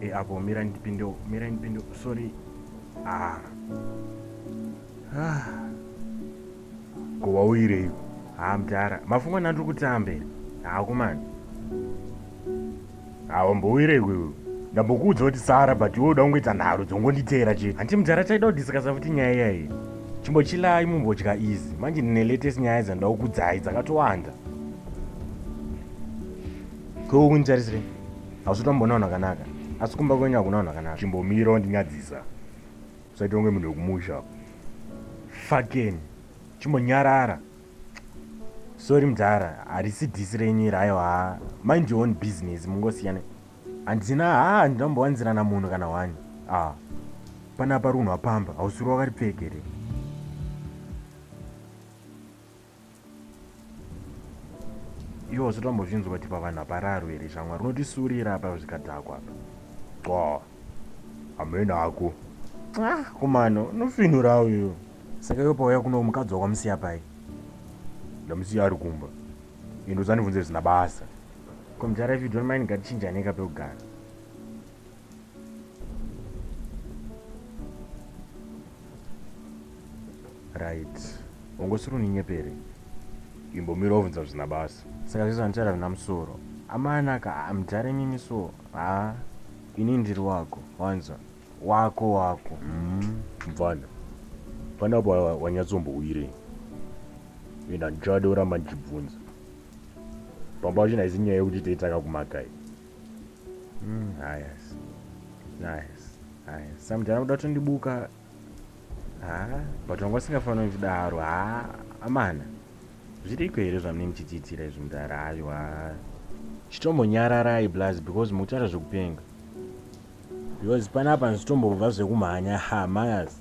e eh, avo mira ndipinde mira ndipinde sorry ah ah ko wauyirei ha ah, mdara mafunga nani tiri kutambe ha ah, kumani ha ah, wambouyirei wewe ndambokuudza kuti sara but iwe uda kungoita nharo dzongonditeera chete hanti mdara taida kudhiskasa futi nyaya iyayi chimbochilai mumbodya izi manje ndine latest nyaya dzandakukudzai dzakatowanda Ko unitarisirei? Hausi kutomboona vanhu vakanaka. Asi kumba kwenyu hakuna vanhu vakanaka. Chimbomira wandinyadzisa. Usaita kunge munhu wekumusha. Fakeni. Chimbonyarara. Sorry mdhara, harisi dhisi renyu iri aiwa. Mind your own business mungosiyana. Handina haa handina kumbowanzirana munhu kana hwani. Ah. Panapa runhu wapamba, hausiri wakaripfeka here? iwo usati wambozvinzwa kuti pavanhu hapararo here shamwari unotisurira apa zvikadhakwa apa qwa hamene hako ah, kumano unofinurawo iyo saka iwe pauya kuno mukadzi wakwamusiya pai ndamusiya ari kumba indosandibvunze zvisina basa komjara if you don't mind ngatichinjaneka pekugara right ungosiri uninyepere imbomira ovhunza zvina basa saka zvese vandichara zvina musoro amanaka amudhara imimi so ha ini ndiri wako wanzwa wako wako mvana mm-hmm. panapo wanyatsombowirei enda ndichada uramba ndichibvunza pamba vachina isi nyaya yekuti teitanga kumakai Mm, hayas. Nice. Hayas. Samudhara kuda kutondibuka. Ha, but wanga usingafanira kudaro. Ha, amana. Zviriko here zvamunenge muchichiitira izvi mudhara? Haiwa. Chitombonyararai blaz because mukutaura zvekupenga. Because panapa ndizitombobva zvekumhanya. Ha, mayas.